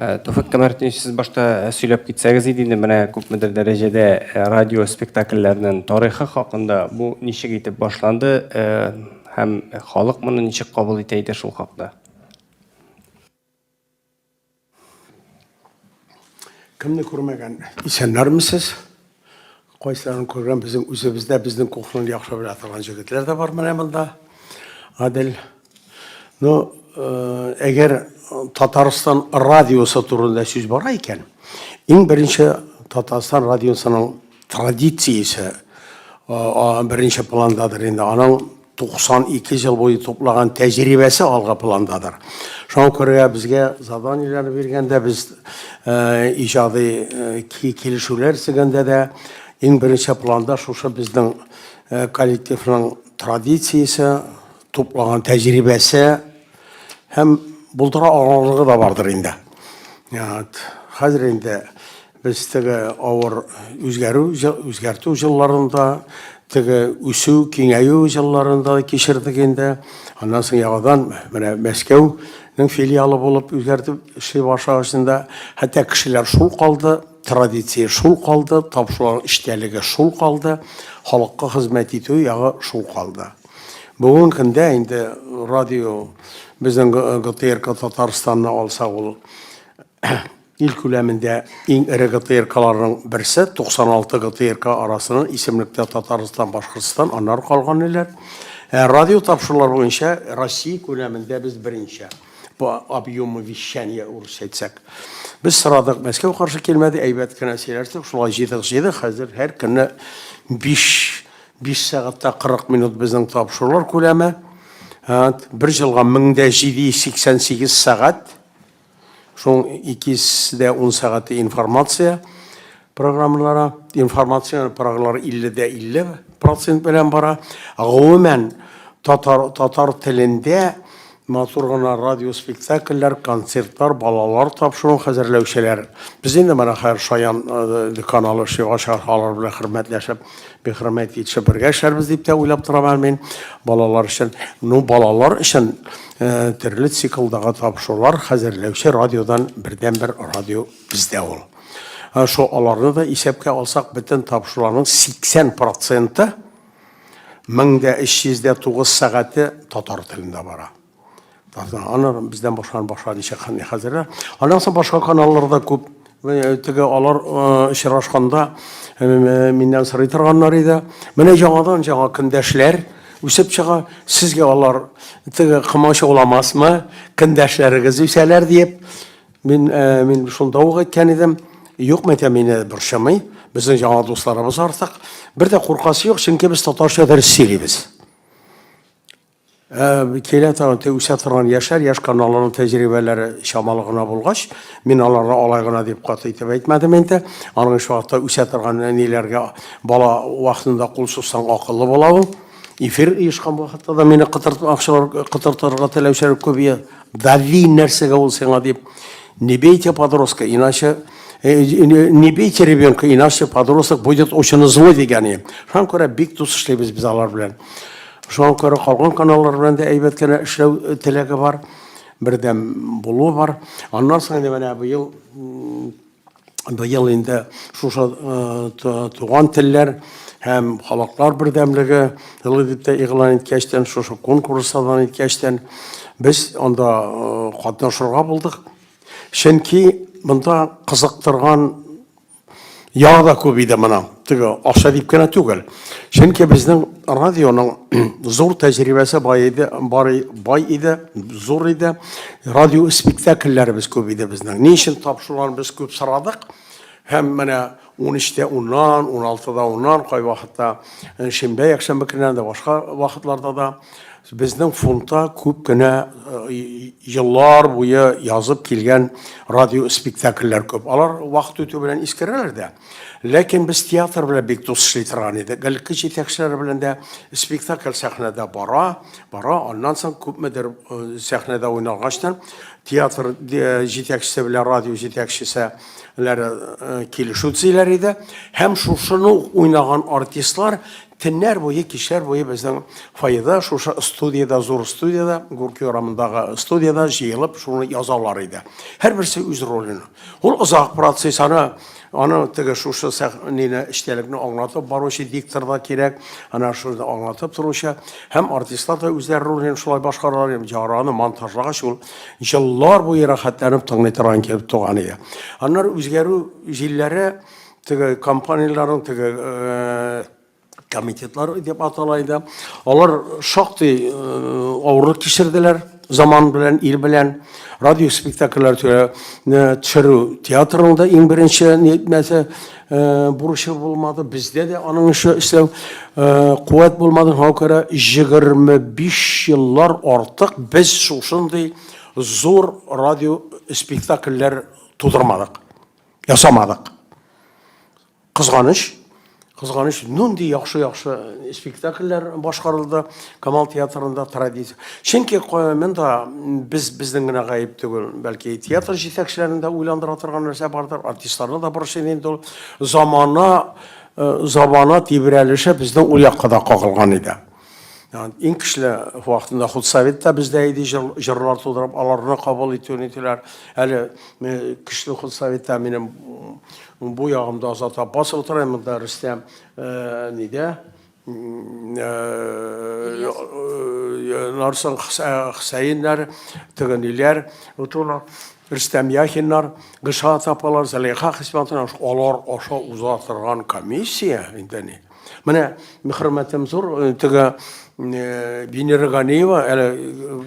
Э, Туфык Камәртович, сез башта э, сөйләп китсәгез иде инде менә күпмедер дәрәҗәдә э, радио спектакльләрнең тарихы хакында. Бу ничек итеп башланды һәм халык моны ничек кабул итә иде шул хакта? Кемне күрмәгән? Исәннәрмесез? Кайсыларын күргән безнең үзебездә безнең кухняны яхшы белә торган җегетләр дә бар менә монда. Гадел. Ну, э, әгәр Татарстан радиосы турында сүз бара икән, иң беренче Татарстан радиосының традициясе э, беренче пландадыр инде. Аның 92 ел буе туплаган тәҗрибәсе алга пландадыр. Шуңа күрә безгә заданиеләрне биргәндә без э, иҗади э, килешүләр төзегәндә дә иң беренче планда шушы безнең э, коллективның традициясе, туплаган тәҗрибәсе һәм булдыра алырлыгы да бардыр инде. Хәзер инде Без теге авыр үзгәрү, үзгәртү җылларын да, теге үсү, киңәю җылларын да кичердек инде. Аннан соң яңадан менә Мәскәүнең филиалы булып үзгәртеп эшли башлагач инде, хәтта кешеләр шул калды, традиция шул калды, тапшырулар эчтәлеге шул калды, халыкка хезмәт итү ягы шул калды. Бүгенге көндә инде радио безнең ГТРК Татарстанны алсак, ул Ил күләмендә иң эре ГТРКларның берсе 96 ГТРК арасыннан исемлектә Татарстан, Башкортстан, аннары калган илләр. Ә радио тапшырулар буенча Россия күләмендә без беренче по объему вещания урысча әйтсәк. Без сорадык, Мәскәү каршы килмәде, әйбәт кенә сөйләштек, шулай җыйдык, җыйдык, хәзер һәр көнне 5 5 сәгатьтә 40 минут безнең тапшырулар күләме. Бер җылга 1788 сәгать. Шуның икес дә ун сәгате информация программалары, информацион программалар 50 дә 50 процент белән бара. Гомумән, татар, татар телендә матур гына радиоспектакльләр, концертлар, балалар тапшыруын хәзерләүчеләр. Без инде менә хәзер Шаян каналы чыгачак, алар белән хөрмәтләшеп. Бик хөрмәт итеп бергә эшләрбез дип тә уйлап торам әле мин балалар өчен. Ну, балалар өчен э, төрле циклдагы тапшырулар хәзерләүче радиодан бердәнбер радио бездә ул. Э, шул аларны да исәпкә алсак, бөтен тапшыруларның 80 проценты 1309 сәгате татар телендә бара. Аннан бездән башланып башлады ничә хәнни хәзерләр. Аннан соң башка каналларда күп э, теге алар э, очрашканда э, миннән сорый торганнар иде. Менә яңадан жаңа көндәшләр үсеп чыга. Сезгә алар теге кымач уламасмы? Көндәшләрегез үсәләр диеп. Мин мин шунда ук әйткән идем. Юк, мәтә мине борчымый. Безнең яңа дусларыбыз артык. Бер дә куркасы юк, чөнки без татарча дәрес сөйлибез. Ә килә торган те үсә торган яшәр, яшь каналларның тәҗрибәләре чамалы гына булгач, мин аларга алай гына дип каты итеп әйтмәдем инде. Аның эш вакытта үсә торган әниләргә бала вакытында кул сузсаң акыллы була ул. Эфир оешкан вакытта да мине кытыртмакчылар, кытыртырга теләүчеләр күбия. Дали нәрсәгә ул сиңа дип. Не бейте подростка, иначе не бейте ребенка, иначе подросток будет очень злой дигән ием. Шуңа күрә бик дус эшлибез без алар белән. Шуңа күрә калган каналлар белән дә әйбәт кенә эшләү теләге бар, бердәм булу бар. Аннан соң инде менә быел быел инде шушы туган телләр һәм халыклар бердәмлеге елы дип тә игълан иткәчтән, шушы конкурстан иткәчтән без анда катнашырга булдык. Чөнки монда кызыктырган Ял да күп иде моның. Теге акча дип кенә түгел. Чөнки безнең радионың зур тәҗрибәсе бай иде, бар бай иде, зур иде. Радио спектакльләребез күп иде безнең. Ни өчен тап шуларны без күп сорадык? Һәм менә 13-тә уннан, 16-да уннан, кайвакытта шимбә, якшәмбе көннәрендә, башка вакытларда да Безнең фондта күп кенә еллар буе язып килгән радиоспектакльләр күп. Алар вакыт үтү белән искерәләр дә. Ләкин без театр белән бик дус эшли торган идек. Элекке җитәкчеләр белән дә спектакль сәхнәдә бара, бара, аннан соң күпмедер сәхнәдә уйналгачтан театр җитәкчесе белән радио җитәкчесе килешү төзиләр иде. Һәм шушыны уйнаган артистлар Төннәр буе, кичләр буе безнең фойеда, шушы студиядә, зур студиядә, Гурки урамындагы студиядә җыелып, шуны язалар иде. Һәрберсе үз ролен. Ул озак процесс, аны аны теге шушы сәхнәне эчтәлекне аңлатып баручы диктор да кирәк, ана шуны аңлатып торучы һәм артистлар да үзләре ролен шулай башкаралар, һәм җараны монтажлагач ул еллар буе рәхәтләнеп тыңлый торган кебек туган иде. Аннары үзгәрү җилләре Теге компанияләрнең теге комитетлар дип атала иде. Алар шактый авырлык кичерделәр заман белән, ил белән. Радио спектакльләр төшерү театрның да иң беренче нәтмәсе бурычы булмады. Бездә дә аның эше эшләү куәт булмады. Шуңа күрә 25 еллар артык без шушындый зур радио спектакльләр тудырмадык. ясамадык. Кызганыч, кызганыч, нинди яхшы-яхшы э, спектакльләр башкарылды Камал театрында традиция. Чөнки монда без безнең генә гаеп түгел, бәлки театр җитәкчеләрен дә уйландыра торган нәрсә бардыр, артистларны да борчый инде ул. Замана э, замана тибрәлеше безнең ул якка да кагылган иде. Иң кичле вакытында худсовет та бездә иде, җырлар тудырып, аларны кабул итү нитиләр. Әле кичле худсоветтә минем бу ягымда Азат Аппас утыра, монда Рөстәм нидә? Нарсын Хөсәеннәр, тегениләр утыра. Рөстәм Яхиннар, Гышат апалар, Зәлиха Хисматовна, алар аша уза торган комиссия инде ни. Менә хөрмәтем зур, э, теге э, Венера Ганиева әле э,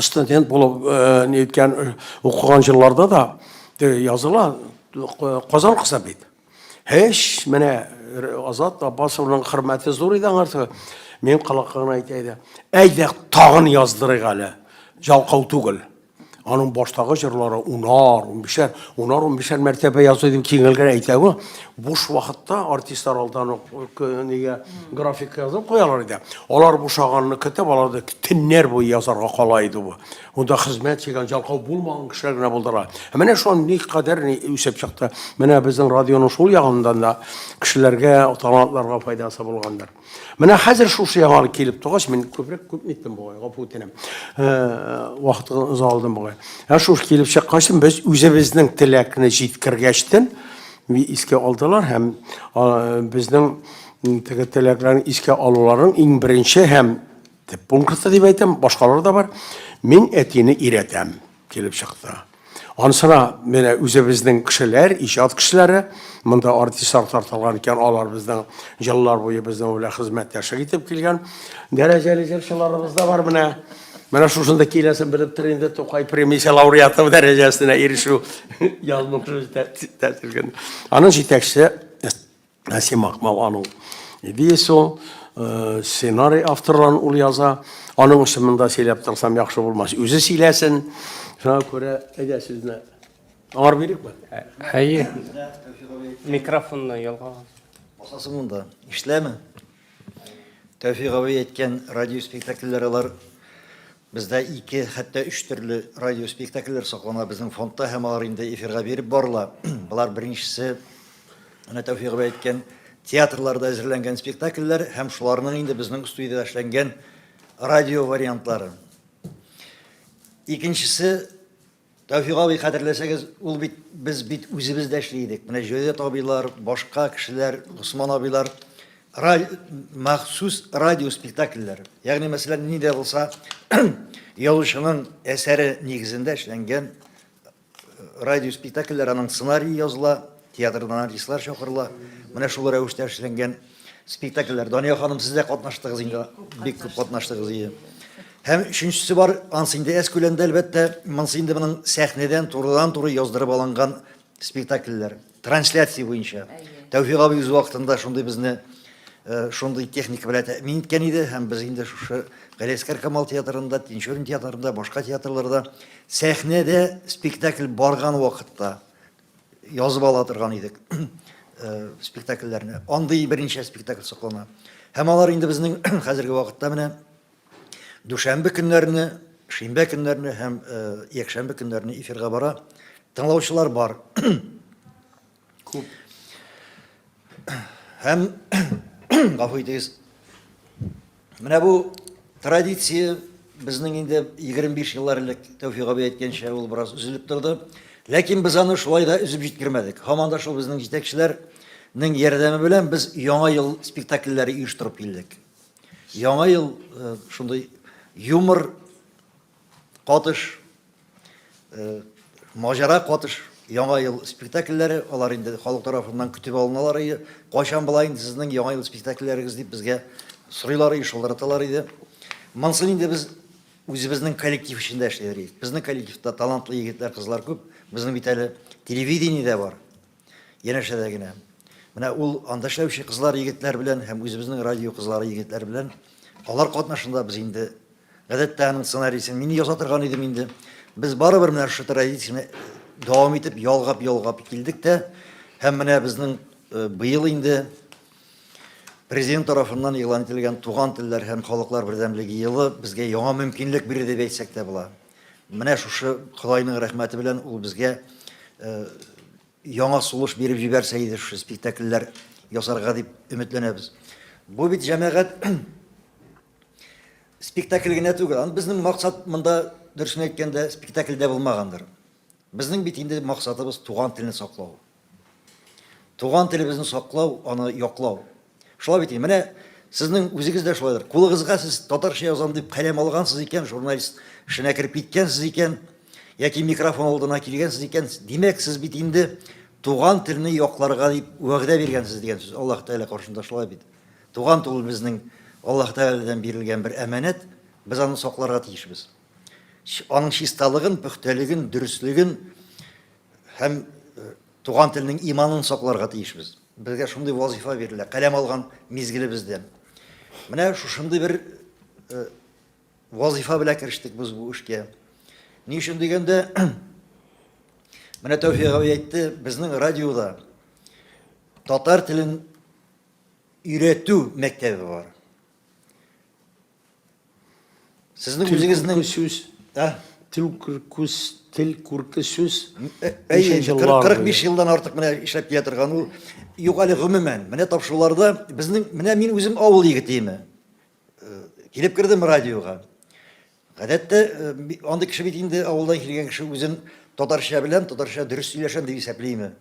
студент булып ниткән укыган җылларда да языла Казан кызы бит. Һеш, менә Азат Аббасовның хөрмәте зур иде аңарсы. Мин калаккагына әйтә иде. Әйдә, тагын яздырыйк әле. Жалкау түгел. Аның баштагы җырлары унар, унбишәр, унар, унбишәр мәртәбә язу дип киңелгән әйтәве, буш вакытта артистлар алдан ук нигә график язып куялар иде. Алар бушаганны көтеп, алар да төннәр буе язарга кала иде бу. Монда хезмәт чигән, җалкау булмаган кешеләр генә булдылар. Ә менә шуны никадәр ни үсеп чыкты. Менә безнең радионың шул ягыннан да кешеләргә, талантларга файдасы булгандыр. Менә хәзер шушы яңалык килеп тугач, мин күбрәк күп ниттем бугай, гафу үтенәм. Вакытны оза алдым бугай. Ә шуш килеп чыккач, без үзебезнең теләкне җиткергәчтен искә алдылар һәм безнең теге теләкләрне искә алуларын иң беренче һәм Теп пункты дип әйтәм, башкалар да бар. Мин әтине иретәм, килеп чыкты. Ансына менә үзебезнең кешеләр, иҗат кешеләре, монда артистлар тартылган икән, алар безнең еллар буе безнең белән хезмәттәшлек итеп килгән дәрәҗәле җырчыларыбыз да бар менә. Менә шушында киләсен белеп тор инде Тукай премиясе лауреаты дәрәҗәсенә ирешү язмышы тәтелгән. Аның җитәкчесе Ә син махмал ану. Дисо э, сценарий авторларын ул яза. Аның өчен монда сөйләп торсам яхшы булмас. Үзе сөйләсен. Шуңа күрә әйдә сезне аңар бирикме? Әйе. Микрофонны ялга. Басасы монда. Ишләме? Тәүфик абый әйткән радио спектакльләр алар. Бездә ике, хәтта өч төрле радио спектакльләр саклана безнең фондта һәм алар инде эфирга биреп барыла. Болар беренчесе, менә Тәүфик абый әйткән, театрларда әзерләнгән спектакльләр һәм шуларның инде безнең студиядә эшләнгән радио вариантлары. Икенчесе, Тәүфик абый, хәтерләсәгез, ул бит без бит үзебез дә эшли идек. Менә Җәүдәт абыйлар, башка кешеләр, Госман абыйлар махсус радио спектакльләр. Ягъни, мәсәлән, ни дә булса язучының әсәре нигезендә эшләнгән радио спектакльләр, аның сценарии языла, театрдан артистлар чакырыла. Менә шул рәвештә эшләнгән Спектакльләр. Дания ханым, сез дә катнаштыгыз инде, бик күп катнаштыгыз ие. Һәм өченчесе бар, ансы инде әз күләмдә, әлбәттә, монсы инде моның сәхнәдән турыдан-туры яздырып алынган спектакльләр. Трансляция буенча. Тәүфик абый үз вакытында шундый безне э, шундый техника белән тәэмин иткән иде һәм без инде шушы Галиәскәр Камал театрында, Тинчурин театрында, башка театрларда сәхнәдә спектакль барган вакытта Язып ала торган идек спектакльләрне. Андый берничә спектакль соклана. Һәм алар инде безнең хәзерге вакытта менә дүшәмбе көннәрне, шимбә көннәрне һәм якшәмбе көннәрне эфирга бара. Тыңлаучылар бар. Күп. Һәм гафу итегез. Менә бу традиция безнең инде 25 еллар элек Тәүфик абый әйткәнчә ул бераз өзелеп торды. Ләкин без аны шулай да өзеп җиткермәдек. Һаман да шул безнең җитәкчеләрнең ярдәме белән без яңа ел спектакльләре оештырып килдек. Яңа ел э, шундый юмор Катыш, Маҗара катыш, Яңа ел спектакльләре, алар инде халык тарафыннан көтеп алыналар иде. Кайчан була инде сезнең Яңа ел спектакльләрегез дип безгә сорыйлар иде, шылтыраталар иде. Монсын инде без үзебезнең коллектив эчендә эшлиләр иде. Безнең коллективта талантлы егетләр, кызлар күп. Безнең бит әле телевидение дә бар. Янәшә дә генә. Менә ул анда эшләүче кызлар, егетләр белән һәм үзебезнең радио кызлары, егетләр белән алар катнашында без инде гадәттә аның сценарийсын мин яза торган идем инде. Без барыбер менә шушы традицияне дәвам итеп ялгап-ялгап килдек тә һәм менә безнең э, быел инде президент тарафыннан игълан ителгән туган телләр һәм халыклар бердәмлеге елы безгә яңа мөмкинлек бирде дип әйтсәк тә була. Менә шушы Кодайның рәхмәте белән ул безгә яңа сулыш биреп җибәрсә иде шушы спектакльләр ясарга дип өметләнәбез. Бу бит җәмәгать спектакль генә түгел. Аны безнең максат монда дөресен әйткәндә спектакльдә булмагандыр. Безнең бит инде максатыбыз туган телне саклау. Туган телебезне саклау, аны яклау. Шулай бит, менә сезнең үзегез дә шулайдыр. Кулыгызга сез татарча язам дип каләм алгансыз икән, журналист эшенә кереп киткәнсез икән, яки микрофон алдына килгәнсез икән, димәк, сез бит инде туган телне якларга дип вәгъдә биргәнсез дигән сүз. Аллаһ Тәгалә каршында шулай бит. Туган тел безнең Аллаһ Тәгаләдән бирелгән бер әманәт, без аны сакларга тиешбез. Аның чисталыгын, пөхтәлеген, дөреслеген, Һәм туган телнең иманын сакларга тиешбез. Безгә шундый вазифа бирелә, каләм алган мизгелебездә. Менә шушындый бер вазифа белән керештек без бу эшкә. Ни өчен дигәндә, менә Тәүфик абый әйтте, безнең радиода татар телен өйрәтү мәктәбе бар. Сезнең үзегезнең сүз, ә? Тел күркүс, тел күрке сүз. Әйе, 45 елдан артык менә эшләп килә торган ул. Юк әле гомумән, менә тапшыруларда безнең, менә мин үзем авыл егетеме. Э, килеп кердем радиога. Гадәттә э, андый кеше бит инде авылдан килгән кеше үзен татарча белән, татарча дөрес сөйләшәм дип исәплиме.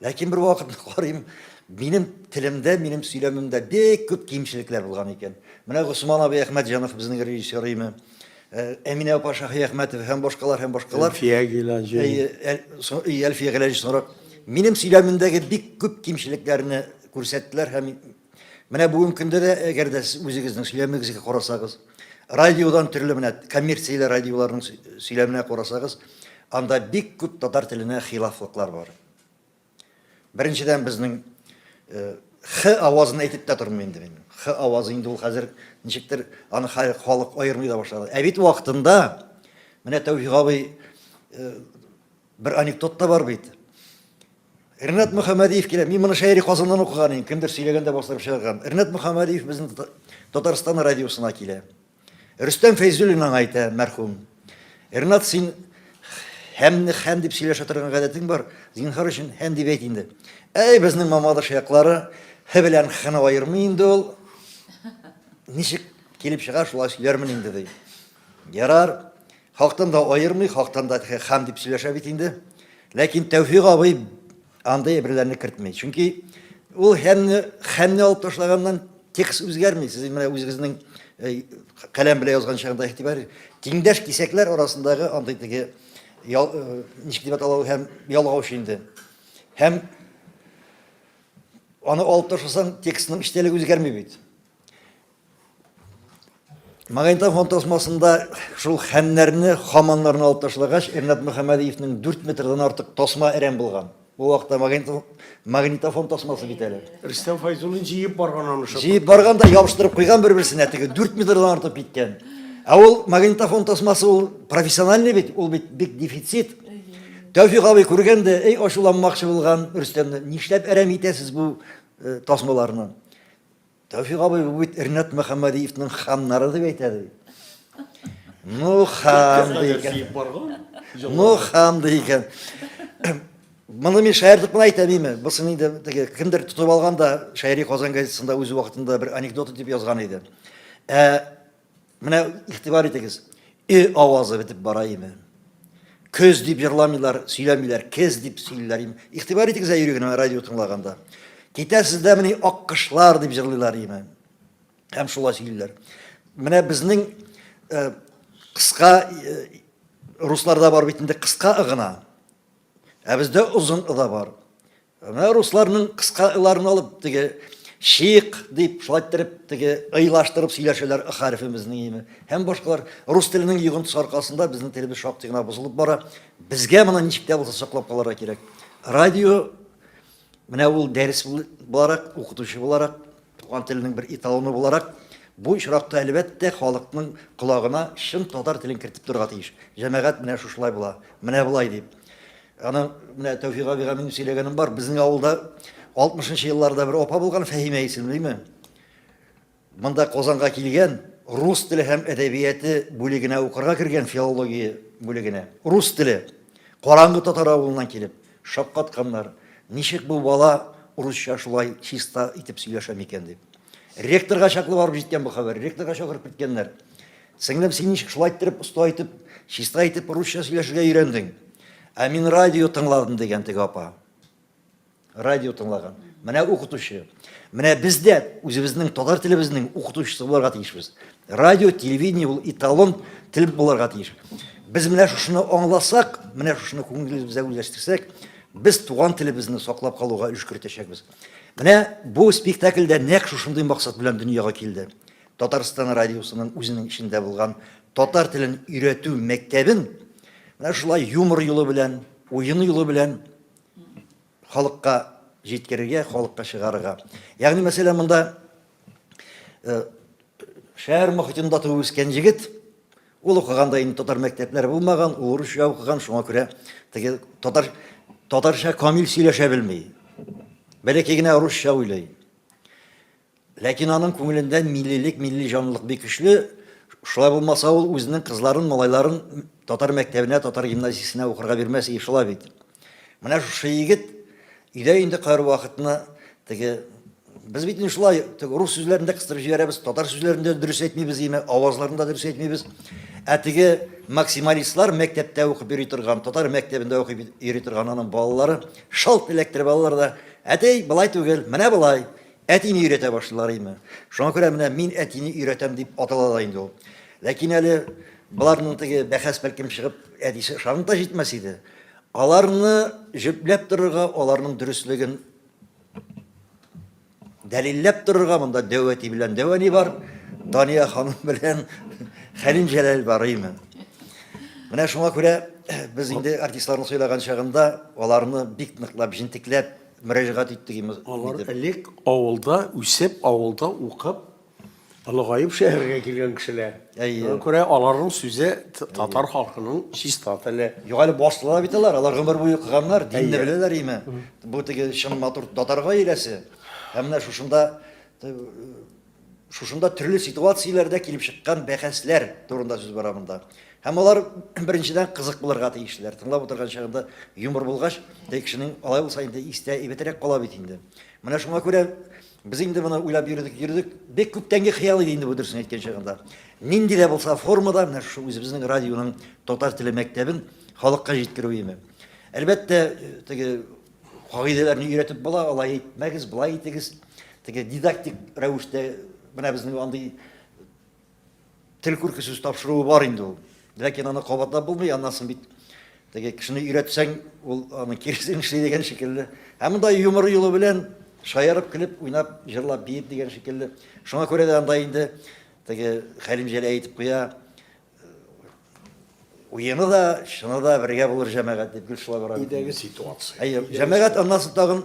Ләкин бер вакыт карыйм, минем телемдә, минем сөйләмемдә бик күп кимчелекләр булган икән. Менә Госман абый Әхмәтҗанов безнең режиссер име. Э, Әминә апа Шаһиәхмәтова һәм башкалар һәм башкалар. Әлфия Гилаҗи. Әлфия Гилаҗи соңрак минем сөйләмемдәге бик күп кимчелекләрне күрсәттеләр һәм Менә бүгенге көндә дә, әгәр дә сез үзегезнең сөйләмегезгә карасагыз, радиодан төрле менә коммерцияле радиоларның сөйләменә карасагыз, анда бик күп татар теленә хилафлыклар бар. Беренчедән безнең х авазын әйтеп тә тормыйм инде мин. Х авазы инде ул хәзер ничектер аны халык аермый да башлады. Ә бит вакытында менә Тәүфик абый бер анекдот та бар бит. Ренат Мөхәммәдиев килә. Мин моны Шәйри Казаннан укыган идем. Кемдер сөйләгәндә бастырып чыгарган. Ренат Мөхәммәдиев безнең Татарстан радиосына килә. Рөстәм Фәйзуллин аңа әйтә, мәрхүм. Ренат, син һәмне һәм дип сөйләшә торган гадәтең бар. Зинхар өчен һәм дип әйт инде. Әй, безнең Мамадыш яклары һе белән хны аермый инде ул. Ничек килеп чыга, шулай сөйләрмен инде, ди. Ярар, хактан да аермый, хактан да хәм дип сөйләшә бит инде. Ләкин Тәүфик абый андый әйберләрне кертми. Чөнки ул хәмне хәмне алып ташлаганнан текст үзгәрми. Сез менә үзегезнең э, каләм белән язган чагында игътибар тиңдәш кисәкләр арасындагы андый теге э, ничек дип атала һәм ялгауч инде. Һәм аны алып ташласаң текстның эчтәлеге үзгәрми бит. Магнитофон тасмасында шул хәннәрне, хаманнарны алып ташлагач, Ренат Мөхәммәдиевнең 4 метрдан артык тасма әрәм булган. Бу вакытта магнитофон, магнитофон тасмасы бит әле. Рөстәм Файзуллин җыеп барган аны шул. Җыеп барган да ябыштырып куйган бер-берсенә теге 4 метрдан артып киткән. Ә ул магнитофон тасмасы ул профессиональный бит, ул бит бик дефицит. Тәүфик абый күргәндә, эй ачуланмакчы булган Рөстәмне, нишләп әрәм итәсез бу э, тасмаларны? Тәүфик абый, бу бит Ринат Мөхәммәдиевның ханнары дип әйтә ди. Ну хан ди икән. Ну хан ди икән. Моны мин шаяртып кына әйтә димме? Бусын инде теге кемдер тотып алган да шаири Казан газетасында үз вакытында бер анекдот дип язган иде. Ә Менә игътибар итегез, э авазы бетеп бара име? Көз дип җырламыйлар, сөйләмиләр, кез дип сөйлиләр име? Игътибар итегез ә йөрегенә радио тыңлаганда. Китәсез дә мени аккышлар дип җырлыйлар име? Һәм шулай сөйлиләр. Менә безнең э, кыска э, русларда бар бит инде кыска ыгына. Ә бездә озын ыда бар. Менә русларның кыска ыларын алып, теге шик дип, шулай иттереп, теге ыйлаштырып сөйләшәләр ы хәрефебезнең име. Һәм башкалар рус теленең йогынтысы аркасында безнең телебез шактый гына бозылып бара. Безгә моны ничек тә булса саклап калырга кирәк. Радио менә ул дәрес буларак, укытучы буларак, туган теленең бер эталоны буларак, бу очракта әлбәттә халыкның колагына чын татар телен кертеп торырга тиеш. Җәмәгать менә шушылай була, менә болай дип. Аның менә Тәүфик абыйга минем сөйләгәнем бар. Безнең авылда 60 нчы елларда бер апа булган, Фәһимә исемлеме? Монда Казанга килгән, рус теле һәм әдәбияты бүлегенә укырга кергән, филология бүлегенә. Рус теле. Караңгы татар авылыннан килеп, шаккатканнар. Ничек бу бала урысча шулай чиста итеп сөйләшә микән дип. Ректорга чаклы барып җиткән бу хәбәр. Ректорга чакырып киткәннәр. Сеңлем, син ничек шулай иттереп оста итеп, чиста итеп русча сөйләшергә өйрәндең? Ә мин радио тыңладым дигән теге апа. Радио тыңлаган. Менә укытучы. Менә без дә үзебезнең татар телебезнең укытучысы буларга тиешбез. Радио, телевидение ул эталон тел буларга тиеш. Без менә шушыны аңласак, менә шушыны күңелебезгә үзләштерсәк, без туган телебезне саклап калуга өлеш кертәчәкбез. Менә бу спектакльдә нәкъ шушындый максат белән дөньяга килде. Татарстан радиосының үзенең эчендә булган татар телен өйрәтү мәктәбен менә шулай юмор юлы белән, уен юлы белән халыкка җиткерергә, халыкка чыгарырга. Ягъни, мәсәлән, монда э, шәһәр мохитендә туып үскән егет, ул укыганда инде татар мәктәпләре булмаган, ул урысча укыган, шуңа күрә теге татар татарча камил сөйләшә белми. Бәләкәй генә русча уйлый. Ләкин аның күңелендә миллилек, милли җанлылык бик көчле. Шулай булмаса, ул үзенең кызларын, малайларын татар мәктәбенә, татар гимназиясенә укырга бирмәс иде шулай бит. Менә шушы егет өйдә инде кайвакытны теге Без бит инде шулай рус сүзләрен дә кыстырып җибәрәбез, татар сүзләрен дә дөрес әйтмибез, яме авазларын да дөрес әйтмибез. Ә теге максималистлар мәктәптә укып йөри торган, татар мәктәбендә укып йөри торган аның балалары шалт эләктереп алалар да, әтей, былай түгел, менә былай. Әтине өйрәтә башлыйлар име. Шуңа күрә менә мин әтине өйрәтәм дип атала да инде ул. Ләкин әле боларның теге бәхәс бәлкем чыгып, әтисе ышанып та җитмәс иде. Аларны җөпләп торырга, аларның дөреслеген дәлилләп торырга монда дәү әти белән дәү әни бар, Дания ханым белән Хәлим Җәләл бар име. Менә шуңа күрә без инде артистларның сөйләгән чагында аларны бик ныклап, җентекләп, мөрәҗәгать иттек инде. Алар элек авылда үсеп, авылда укып, олыгаеп шәһәргә килгән кешеләр. Әйе. Күрә аларның сүзе татар халкының чиста теле. Юк әле басылалар бит алар, алар гомер буе укыганнар, динне беләләр име. Бу теге чын матур татар гаиләсе. Һәм менә шушында Шушында төрле ситуацияләрдә килеп чыккан бәхәсләр турында сүз бара монда. Һәм алар беренчедән кызык булырга тиешләр. Тыңлап утырган чагында юмор булгач, теге кешенең алай булса инде истә әйбәтрәк кала бит инде. Менә шуңа күрә без инде моны уйлап йөрдек, йөрдек. Бик күптәнге хыял иде инде бу дөресен әйткән чагында. Нинди дә булса формада менә шушы үзебезнең радионың татар теле мәктәбен халыкка җиткерү име. Әлбәттә, теге Кагыйдәләрне өйрәтеп була, алай итмәгез, болай итегез. Теге дидактик рәвештә менә безнең андый тел күрке сүз тапшыруы бар инде ул. Ләкин аны кабатлап булмый, аннан бит теге кешене өйрәтсәң, ул аны киресен эшли дигән шикелле. Һәм монда юмор юлы белән шаярып, көлеп, уйнап, җырлап, биеп дигән шикелле. Шуңа күрә дә анда инде теге Хәлим Җәләй әйтеп куя, Уены да, чыны да бергә булыр җәмәгать дип Гөлшала бара. Идәге ситуация. Әйе, җәмәгать аннан соң тагын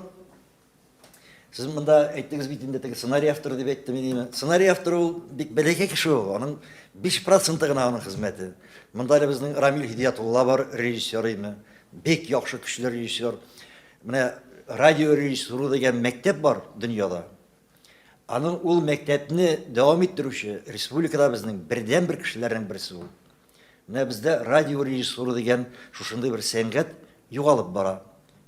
Сез монда әйттегез бит инде теге сценарий авторы дип әйттем идеме? Сценарий авторы ул бик бәләкәй кеше ул. Аның 5% гына аның хезмәте. Монда әле безнең Рамил Хидиятулла бар, режиссер име. Бик яхшы көчле режиссер. Менә радио режиссуры дигән мәктәп бар дөньяда. Аның ул мәктәпне дәвам иттерүче республикаларыбызның бердәнбер кешеләренең берсе ул. Менә бездә радиорежиссура дигән шушындый бер сәнгать югалып бара.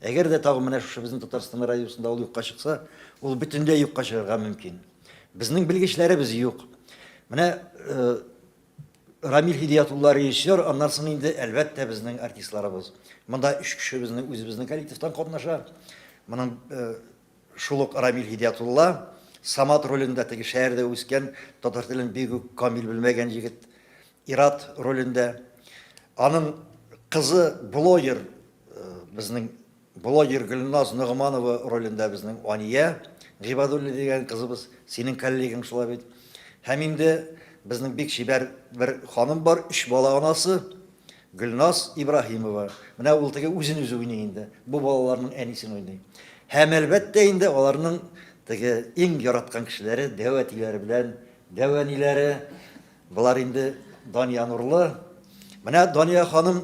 Әгәр дә тагын менә шушы безнең Татарстан радиосында ул юкка чыкса, ул бөтенләй юкка чыгарга мөмкин. Безнең белгечләребез юк. Менә э, Рамил Хидиятулла режиссер, аннан соң инде әлбәттә безнең артистларыбыз. Монда өч кеше безнең үзебезнең коллективтан катнаша. Моның э, Шул ук Рамил Һидиятулла, Самат ролендә теге шәһәрдә үскән, татар телен бик үк камил белмәгән егет, Ират ролендә. Аның кызы блогер, безнең блогер Гөлназ Ногманова ролендә безнең Ания Гыйбадуллина дигән кызыбыз, синең коллегаң шулай бит. Һәм инде безнең бик чибәр бер ханым бар, өч бала анасы, Гөлназ Ибраһимова, менә ул теге үзен-үзе уйный инде, бу балаларның әнисен уйный. Һәм, әлбәттә инде, аларның теге иң яраткан кешеләре, дәү әтиләре белән дәү әниләре. Болар инде Дания Нурлы. Менә Дания ханым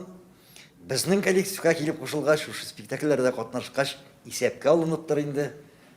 безнең коллективка килеп кушылгач, шушы спектакльләрдә катнашкач, исәпкә алыныптыр инде.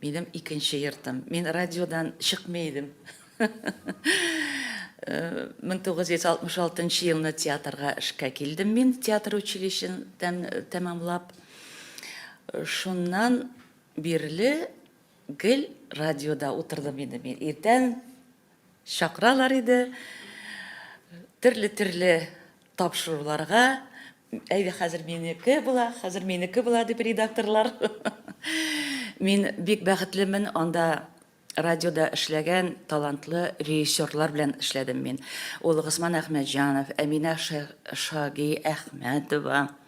Минем икенче йортым. Мин радиодан чыкмый идем. 1966 елны театрга эшкә килдем мин, театр училищен тәмамлап. Шуннан бирле гел радиода утырдым инде мин. Иртән Чакыралар иде, төрле-төрле тапшыруларга. Әйдә, хәзер минеке була, хәзер минеке була, дип редакторлар. Мин бик бәхетлемен, анда радиода эшләгән талантлы режиссерлар белән эшләдем мин. Ул Госман Әхмәтҗанов, Әминә Шаги Әхмәтова.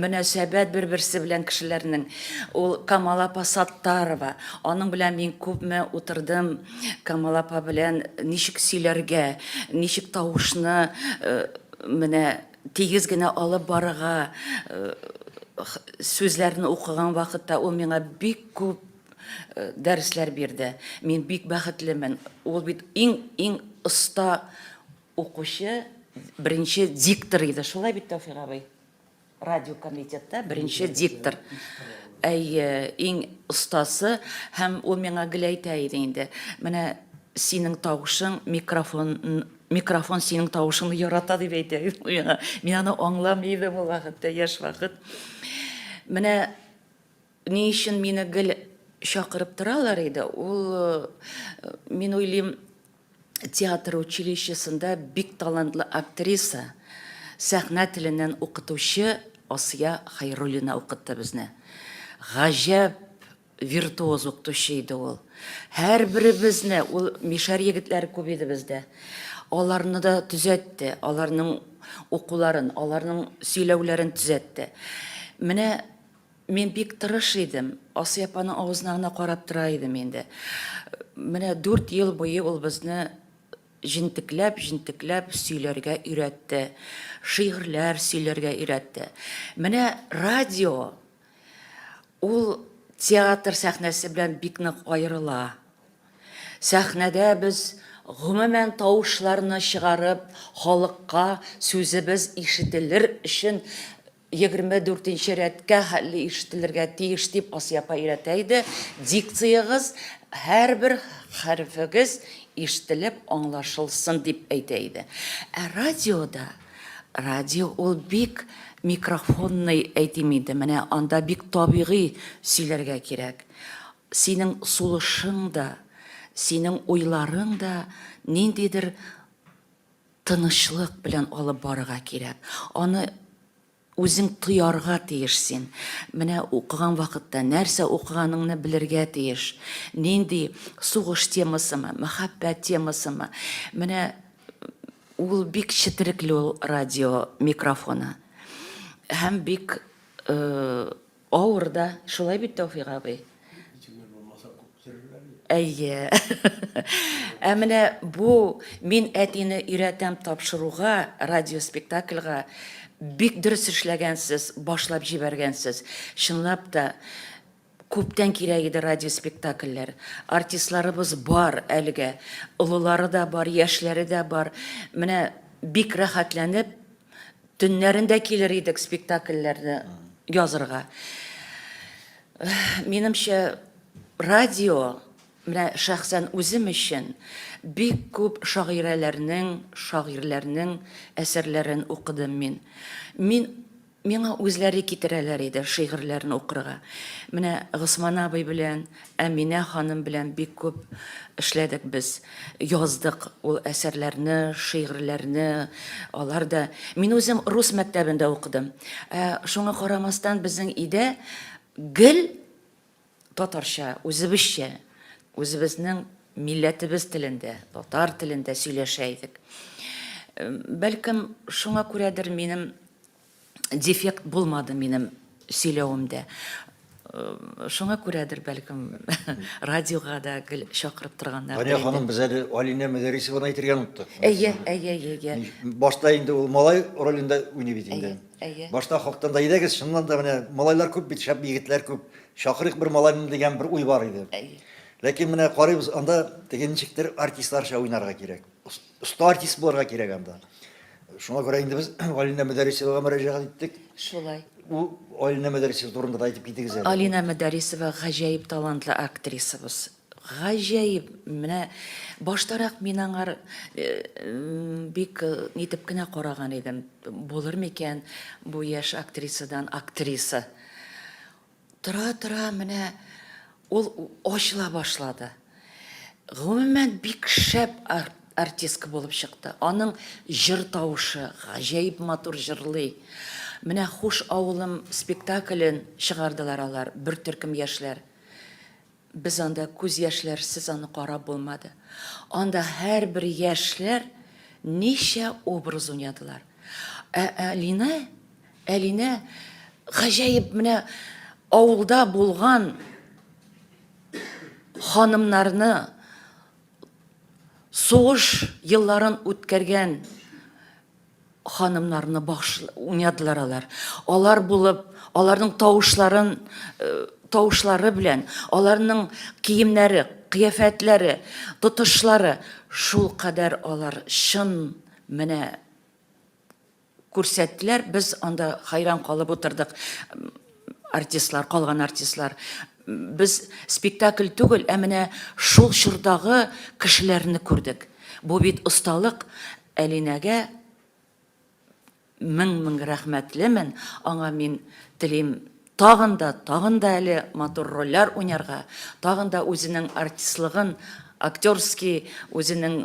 Мөнәсәбәт бер-берсе белән кешеләрнең. Ул Камал апа Саттарова. Аның белән мин күпме утырдым. Камал апа белән ничек сөйләргә, ничек тавышны менә тигез генә алып барырга. Сүзләрне укыган вакытта ул миңа бик күп дәресләр бирде. Мин бик бәхетлемен. Ул бит иң-иң оста Укучы беренче диктор иде, шулай бит, Тәүфик абый? Радио комитетта беренче диктор. Әйе, иң остасы һәм ул миңа гел әйтә иде инде. Менә синең тавышың микрофон микрофон синең тавышыңны ярата дип әйтә миңа. Мин аны аңламый идем ул вакытта, яшь вакыт. Менә Ни өчен мине гел чакырып торалар иде? Ул, мин уйлыйм, театр училищесында бик талантлы актриса, сәхнә теленнән укытучы Асия Хайруллина укытты безне. Гаҗәп виртуоз укытучы иде ул. Һәрберебезне, ул мишәр егетләре күп иде бездә. Аларны да төзәтте, аларның укуларын, аларның сөйләүләрен төзәтте. Менә Мин бик тырыш идем. Асия апаның авызына гына карап тора идем инде. Менә дүрт ел буе ул безне җентекләп, җентекләп сөйләргә өйрәтте. Шигырьләр сөйләргә өйрәтте. Менә радио, ул театр сәхнәсе белән бик нык аерыла. Сәхнәдә без, гомумән, тавышларны чыгарып, халыкка сүзебез ишетелер өчен, Егерме дүртенче рәткә хәтле ишетелергә тиеш, дип Асия апа өйрәтә иде. Дикциягыз, һәрбер хәрефегез ишетелеп аңлашылсын, дип әйтә иде. Ә радиода, радио ул бик микрофонный, әйтим инде, менә анда бик табигый сөйләргә кирәк. Синең сулышың да, синең уйларың да ниндидер Тынычлык белән алып барырга кирәк. Аны үзең тоярга тиеш син. Менә укыган вакытта нәрсә укыганыңны белергә тиеш. Нинди сугыш темасымы, мәхәббәт темасымы. Менә ул бик четерекле ул радио микрофоны. Һәм бик Авыр да, шулай бит, Тәүфик абый? Итегем булмаса күптерерләр бит. Әйе. Ә менә бу мин әтине өйрәтәм тапшыруга, радиоспектакльга бик дөрес эшләгәнсез, башлап җибәргәнсез. Чынлап та күптән кирәк иде радиоспектакльләр. Артистларыбыз бар әлегә. Олылары да бар, яшьләре дә бар. Менә бик рәхәтләнеп Төннәрен дә килер идек спектакльләрне язырга. Минемчә, радио, менә шәхсән үзем өчен, бик күп шагыйрәләрнең, шагыйрьләрнең әсәрләрен укыдым мин. Мин, миңа үзләре китерәләр иде шигырьләрен укырга. Менә Госман абый белән, Әминә ханым белән бик күп эшләдек без. Яздык ул әсәрләрне, шигырьләрне. Алар да Мин үзем рус мәктәбендә укыдым. Ә шуңа карамастан безнең өйдә гел татарча, үзебезчә, үзебезнең милләтебез телендә, татар телендә сөйләшә идек. Бәлкем шуңа күрәдер минем дефект булмады минем сөйләвемдә. Э, шуңа күрәдер, бәлкем, радиога да гел чакырып торганнар. Тания ханым, без әле Алинә Мәдәрисованы әйтергә оныттык. Әйе, әйе, әйе, әйе. Башта инде ул малай ролендә уйный бит инде. Әйе. Башта хактан да идегез, шуннан да менә малайлар күп бит, шәп егетләр күп. Чакырык бер малайны дигән бер уй бар иде. Әйе. Ләкин менә карыйбыз, анда теге ничектер артистларча уйнарга кирәк. Оста артист булырга кирәк анда. Шуңа күрә инде без Алина Мәдәрисовага мөрәҗәгать иттек. Шулай. Ул Алина Мәдәрисова турында да әйтеп китегез әле. Алина Мәдәрисова гаҗәеп талантлы актрисабыз. Гаҗәеп. Менә баштарак мин аңар э, бик э, нитеп кенә караган идем. Булыр микән бу яшь актрисадан актриса? Тора-тора менә ул ачыла башлады. Гомумән, бик шәп артистка булып чыкты. Аның җыр тавышы, гаҗәеп матур җырлый. Менә Хуш авылым спектаклен чыгардылар алар, бер төркем яшьләр. Без анда күз яшьләрсез аны карап булмады. Анда һәрбер яшьләр ничә образ уйнадылар. Ә Әлинә, Әлинә гаҗәеп менә авылда булган ханымнарны, сугыш елларын үткәргән, Ханымнарны багыш уйнадылар алар. Алар булып, аларның тавышларын, э, тавышлары белән, аларның киемнәре, кыяфәтләре, тотышлары шул кадәр алар чын менә күрсәттеләр, без анда хайран калып утырдык. Артистлар, калган артистлар. Без спектакль түгел, ә менә шул чордагы кешеләрне күрдек. Бу бит осталык. Әлинәгә мең-мең рәхмәтлемен, аңа мин телим тагын да, тагын да әле матур рольләр уйнарга, тагын да үзенең артистлыгын, актерский үзенең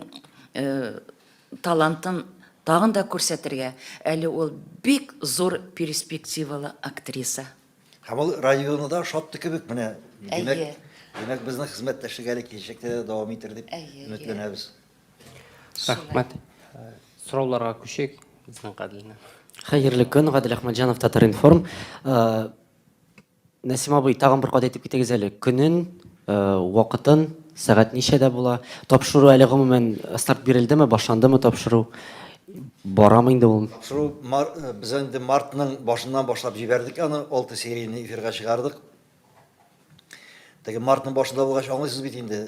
талантын тагын да күрсәтергә. Әле ул бик зур перспективалы актриса. Һәм ул районы да ошатты кебек менә. Димәк, Әйе. димәк безнең хезмәттәшлек әле киләчәктә дә дәвам итәр дип Әйе, әйе. өметләнәбез. Рәхмәт. Э, Сорауларга күчик. Безнең Гаделне. Хәерле көн, Гадел Әхмәтҗанов, Татар-информ. Э, Нәсим абый, тагын бер кат әйтеп китегез әле. Көнен Вакытын, сәгать ничәдә була? Тапшыру әле гомумән старт бирелдеме, башландымы тапшыру? Барамы инде ул? Тапшыру мар, без инде мартның башыннан башлап җибәрдек аны, 6 серияне эфирга чыгардык. Теге мартның башында булгач, аңлыйсыз бит инде,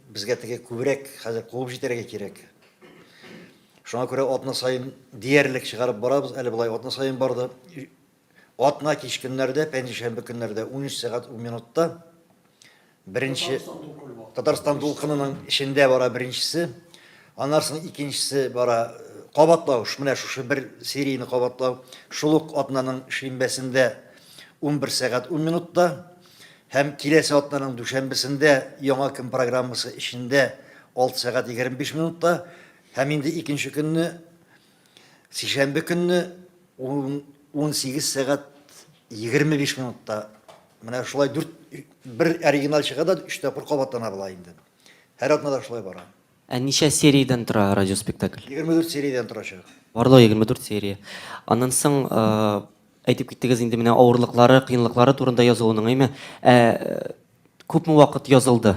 безгә теге күбрәк хәзер куып җитәргә кирәк. Шуңа күрә атна саен диярлек чыгарып барабыз, әле болай атна саен барды, Атна кич көннәрдә, пәнҗешәмбе көннәрдә унөч сәгать ун минутта беренче Татарстан дулкынының эчендә бара беренчесе, аннан соң икенчесе бара кабатлау, менә шушы бер серияне кабатлау шул ук атнаның шимбәсендә 11 сәгать 10 минутта һәм киләсе атнаның дүшәмбесендә яңа көн программасы эчендә 6 сәгать 25 минутта һәм инде икенче көнне Сишәмбе көнне ун, унсигез сәгать егерме биш минутта менә шулай дүрт, бер оригиналь чыга да, өч тапкыр кабатлана була инде. Һәр атнада шулай бара. Ә ничә сериядән тора радиоспектакль? Егерме дүрт сериядән торачак. Барлыгы егерме дүрт серия. Аннан соң, әйтеп киттегез инде, менә авырлыклары, кыенлыклары турында язылуның, әйме? Ә күпме вакыт язылды?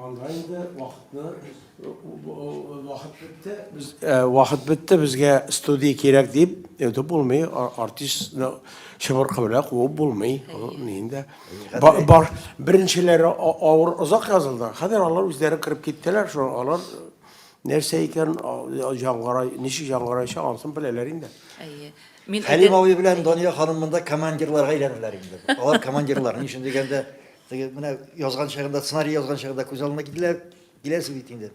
Анда инде вакытны вакыт бетте. Без вакыт бетте, безгә студия кирәк дип, это булмый, артистны чыбыркы белән куып булмый. Инде бар беренчеләре авыр озак язылды. Хәзер алар үзләре кереп киттеләр, шул алар нәрсә икән җангара, ничек җангарача ансын беләләр инде. Әйе. Мин Хәлим абый белән Дания ханым монда командирларга әйләнерләр инде. Алар командирлар, ни өчен дигәндә, Теге менә язган чагында, сценарий язган чагында күз алдына кителә, киләсе бит инде.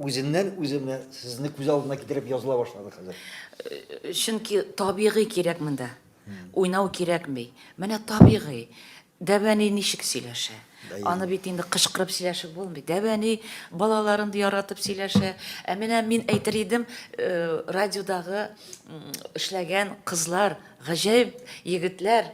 Үзеннән үзе менә сезне күз алдына китереп языла башлады хәзер. Э, чөнки табигый кирәк монда. Уйнау кирәкми. Менә табигый. Дәбәни ничек сөйләшә? Аны бит инде кычкырып сөйләшеп булмый. Дәбәни балаларын яратып сөйләшә. Ә менә мин әйтер идем, э, радиодагы эшләгән кызлар, гаҗәеп егетләр,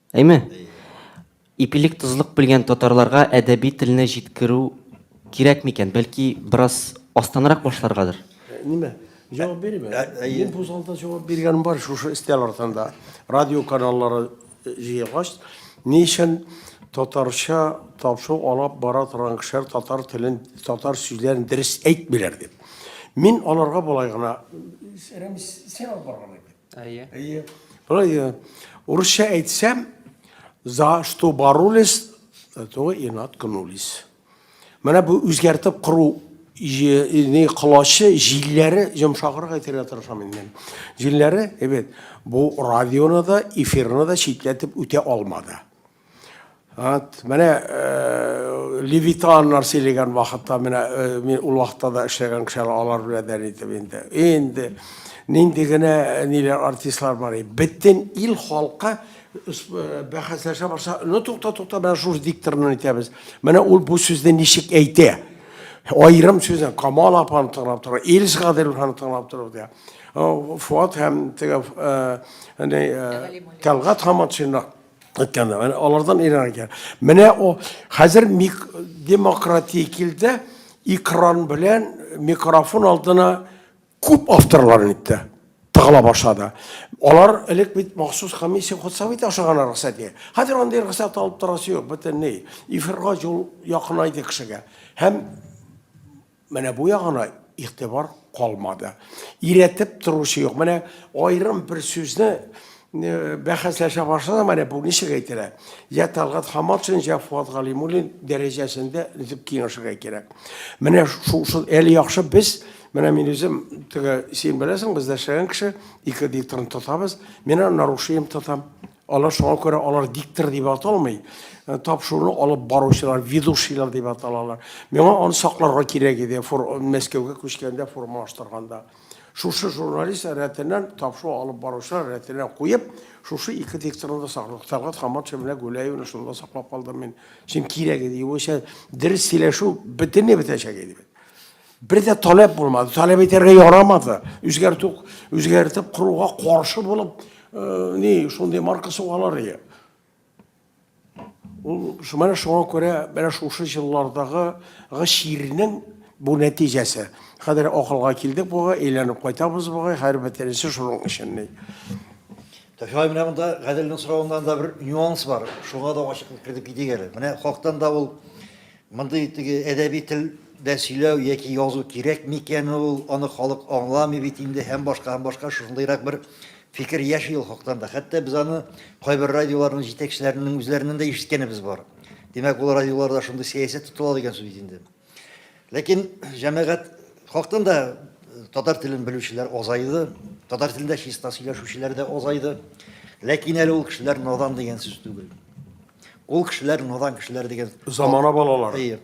Әйме? Ипилек тозлык белгән татарларга әдәби телне җиткерү кирәк микән? Бәлки бераз астанрак башларгадыр? Нимә? Җавап бирим әле. Мин бу залда җавап биргәнем бар шушы өстәл артында. Радио каналлары җыелгач, ни өчен татарча тапшыру алып бара торган кешеләр татар телен, татар сүзләрен дөрес әйтмиләр дип. Мин аларга болай гына Рәмис, син алып барган идең. Әйе. Әйе. Әйе. Урысча әйтсәм, за что боролись, за то и наткнулись. Менә бу үзгәртеп кору не колачы җилләре йомшагырга итәргә тырышам инде. Җилләре, әйбәт, бу радионы да, эфирны да читләтеп үтә алмады. Ат, менә э, левитаннар сөйләгән вакытта менә э, мин ул вакытта да эшләгән кешеләр алар белән дә итеп инде. Инде нинди генә э, ниләр артистлар бар иде. Бөтен ил халкы бәхәсләшә башласа, ну тукта тукта менә шушы дикторны әйтәбез. Менә ул бу сүзне ничек әйтә? Аерым сүзне Камал апаны тыңлап тора, Илс Гадиловны тыңлап тора дия. Фуат һәм теге Тәлгат Хаматшинны Әткәндә, менә алардан өйрәнергә. Менә о, хәзер демократия килде, экран белән микрофон алдына күп авторлар инде тыгыла башлады. Алар элек бит махсус комиссия хутсабы итә ашаган рөхсәт ди. Хәзер андый рөхсәт алып торасы юк, бөтенләй. Эфирга юл якынайды кешегә. Һәм Менә бу ягына игътибар калмады. Иретеп торучы юк. Менә аерым бер сүзне э, бәхәсләшә башлады, менә бу ничек әйтелә? Я Талгат Хаматшин, я Фуат Галимуллин дәрәҗәсендә дип киңәшергә кирәк. Менә шул шул әле яхшы без Менә мин үзем теге син беләсең, без дәшәгән кеше ике дикторны тотабыз. Мин аны нарушением тотам. Алар шуңа күрә алар диктор дип аталмый. Э, тапшыруны алып баручылар, ведущийлар дип аталалар. Миңа аны сакларга кирәк иде, фор, Мәскәүгә күчкәндә формалаштырганда. Шушы журналист рәтеннән, тапшыру алып баручылар рәтеннән куеп, шушы ике дикторны да сакладык. Тәлгат Хаматшин белән Гүләевны шунда саклап калдым мин. Чөнки кирәк иде. Югыйсә, дөрес сөйләшү бөтенләй бетәчәк иде. Бер дә таләп булмады, таләп итәргә ярамады. Үзгәртү, үзгәртеп куруга каршы булып, э, ни, шундый марка сугалар иде. Ул менә шуңа күрә менә шушы җыллардагы шигырьнең бу нәтиҗәсе. Хәзер акылга килдек буга, әйләнеп кайтабыз буга, һәр бөтенесе шуның өчен ни. Тәфигай менә монда Гаделнең соравыннан да бер нюанс бар. Шуңа да ачыклык кертеп китик әле. Менә хактан да ул Мондый теге әдәби тел дә сөйләү яки язу кирәк микән ул, аны халык аңламый бит инде һәм башка һәм башка шушындыйрак бер фикер яши ул хактан да. Хәтта без аны кайбер радиоларның җитәкчеләренең үзләреннән дә ишеткәнебез бар. Димәк, ул радиоларда шундый сәясәт тотыла дигән сүз бит инде. Ләкин җәмәгать хактан да татар телен белүчеләр азайды, татар телендә чиста сөйләшүчеләр дә азайды. Ләкин әле ул кешеләр надан дигән сүз түгел. Ул кешеләр надан кешеләр дигән. Замана балалары. Әйе.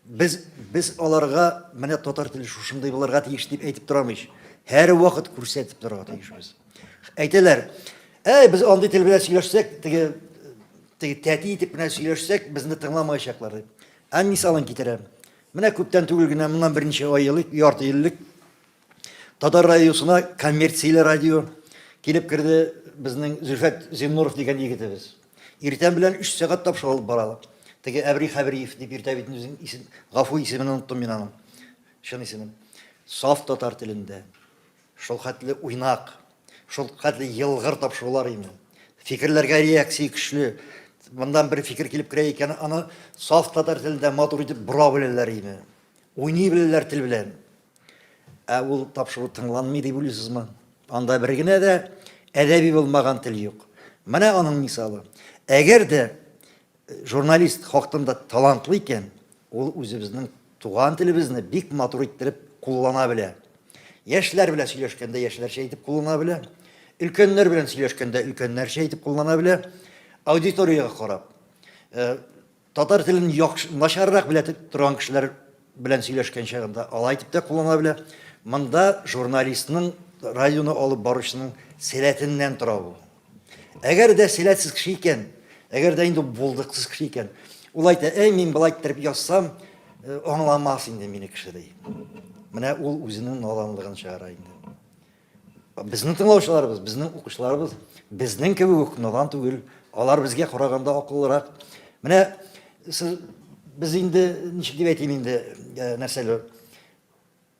Без без аларга менә татар теле шушындый булырга тиеш дип әйтеп торамыйч. Һәр вакыт күрсәтеп торырга тиеш без. Әйтәләр, "Әй, без андый тел белән сөйләшсәк, теге теге тәти итеп менә сөйләшсәк, безне тыңламаячаклар" дип. Ә мисалын китерәм. Менә күптән түгел генә, моннан берничә ай елык, ярты еллык Татар радиосына коммерцияле радио килеп керде безнең Зөлфәт Зиннуров дигән егетебез. Иртән белән 3 сәгать тапшы алып баралар. Теге Әбри Хәбриев дип иртә бит үзен исем, гафу исемен оныттым мин аның. Чын исемен. Саф татар телендә. Шул хәтле уйнак, шул хәтле елгыр тапшырулар инде. Фикерләргә реакция көчле. Мондан бер фикер килеп керә икән, аны саф татар телендә матур итеп бора беләләр инде. Уйный беләләр тел белән. Ә ул тапшыру тыңланмый дип уйлыйсызмы? Анда бер генә дә әдәби булмаган тел юк. Менә аның мисалы. Әгәр дә э, журналист хактында талантлы икән, ул үзебезнең туган телебезне бик матур иттереп куллана белә. Яшьләр белән сөйләшкәндә яшьләрчә итеп куллана белә. Өлкәннәр белән сөйләшкәндә өлкәннәрчә итеп куллана белә. Аудиториягә карап, э, Татар телен яхшы, начаррак белә торган кешеләр белән сөйләшкән чагында алай дип тә куллана белә. Монда журналистның, радионы алып баручының сәләтеннән тора бу. Әгәр дә сәләтсез кеше икән, әгәр дә инде булдыксыз кеше икән, ул әйтә, әй, мин болай иттереп язсам, аңламас инде мине кеше, ди. Менә ул үзенең наданлыгын чыгара инде. Безнең тыңлаучыларыбыз, безнең укучыларыбыз безнең кебек үк надан түгел, алар безгә караганда акыллырак. Менә сез без инде ничек дип әйтим инде э, нәрсәле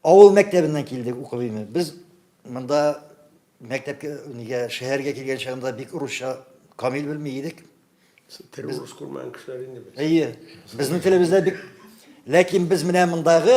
авыл мәктәбеннән килдек укып инде. Без монда мәктәпкә нигә шәһәргә килгән чагында бик русча камил белми идек. Тере урыс күрмәгән кешеләр инде без. Әйе, безнең телебездә бик ләкин без менә мондагы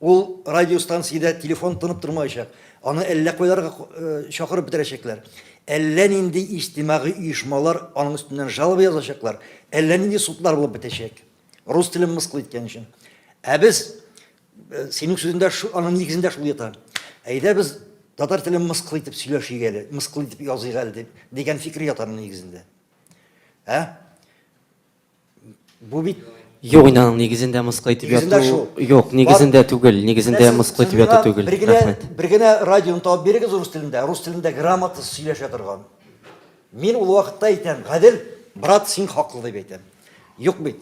Ул радиостанциядә телефон тынып тормаячак, аны әллә кайларга чакырып бетерәчәкләр, әллә нинди иҗтимагый оешмалар аның өстеннән жалоба язачаклар, әллә нинди судлар булып бетәчәк, рус телен мыскыл иткән өчен. Ә без, синең сүзендә аның нигезендә шул ята, әйдә без татар телен мыскыл итеп сөйләшик әле, мыскыл итеп языйк әле, дигән фикер ята аның нигезендә. Ә? Бу бит Юк, инде аның нигезендә мыскыл итеп Нигезендә яту. шул. Юк, нигезендә түгел, нигезендә Менә сез- мыскыл сез итеп яту миңа түгел. Бер генә, Рәхмәт. бер генә радионы табып бирегез рус телендә, рус телендә грамота сөйләшә торган. Мин ул вакытта әйтәм, Гадел, брат, син хаклы дип әйтәм. Юк бит.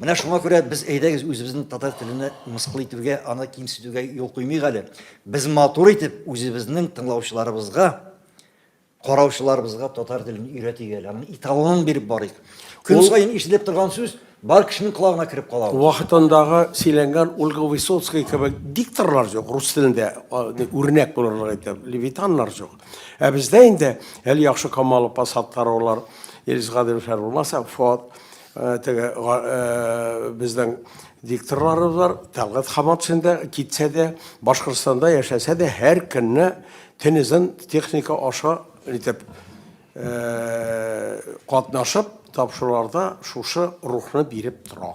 Менә шуңа күрә без әйдәгез үзебезнең татар телене мыскыл итүгә, аны кимсетүгә юл куймыйк әле. Без матур итеп үзебезнең тыңлаучыларыбызга Караучыларыбызга татар телен өйрәтик әле, аның италонын биреп барыйк. Көн саен ишетелеп торган сүз бар кешенең колагына кереп кала. Вакытындагы сөйләнгән Ольга Высоцкая кебек дикторлар җук рус телендә, үрнәк булырлык итеп, левитаннар җук. Ә бездә инде әле яхшы Камалов, Посадкаровлар, Илгиз Гадиловлар булмаса, Фоат Теге безнең дикторларыбыз бар, Тәлгат Хаматшин да китсә дә, Башкортстанда яшәсә дә, һәр көнне тенезен техника аша итеп катнашып, тапшыруларда шушы рухны биреп тора.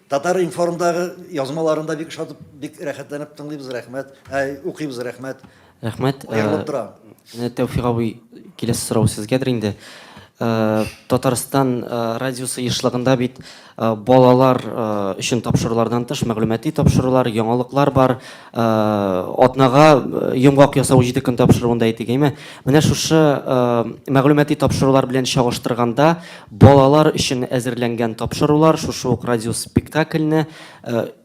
Татар-информдагы язмаларын да бик ошатып, бик рәхәтләнеп тыңлыйбыз, рәхмәт. Ә, укыйбыз, рәхмәт. Рәхмәт. Аерылып тора. Менә Тәүфик абый, киләсе сорау сезгәдер инде. Татарстан радиосы ешлыгында бит балалар өчен тапшырулардан тыш мәгълүмати тапшырулар, яңалыклар бар. атнага йомгак ясау җиде көн тапшыруында әйтик әйме менә шушы мәгълүмати тапшырулар белән чагыштырганда балалар өчен әзерләнгән тапшырулар шушы ук радиоспектакльне